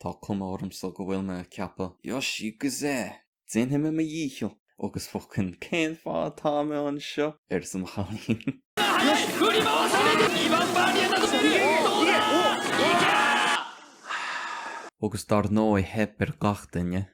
Tá cuma ormsa go bhfuil mé a' ceapadh Yoshi! G'zeh! Déanfaidh mé mo dhícheall! Agus focain cén fáth atá mé anseo? arsa mo chailín. Agus dar ndóigh theip ar gach duine.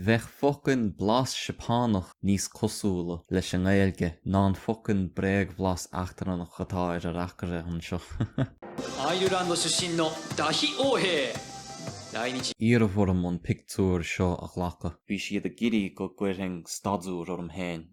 Bheadh focain blas Seapánach níos cosúla leis an nGaeilge ná an focain bréagbhlas eachtrannach atá ar an reacaire anseo. Iarradh orm an pictiúir seo a ghlacadh. Bhí siad ag iarraidh go gcuirfinn staidiúir orm féin.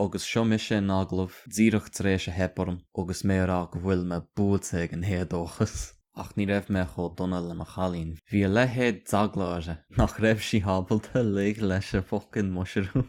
Agus seo mise in agallamh, díreach tar éis a theip orm agus mé a rá go bhfuil mé buailte ag an héadóchas. Ach ní raibh mé chomh dona le mo chailín. Bhí a leithéid d'eagla uirthi nach raibh sí ábalta lig leis an focain muisiriún.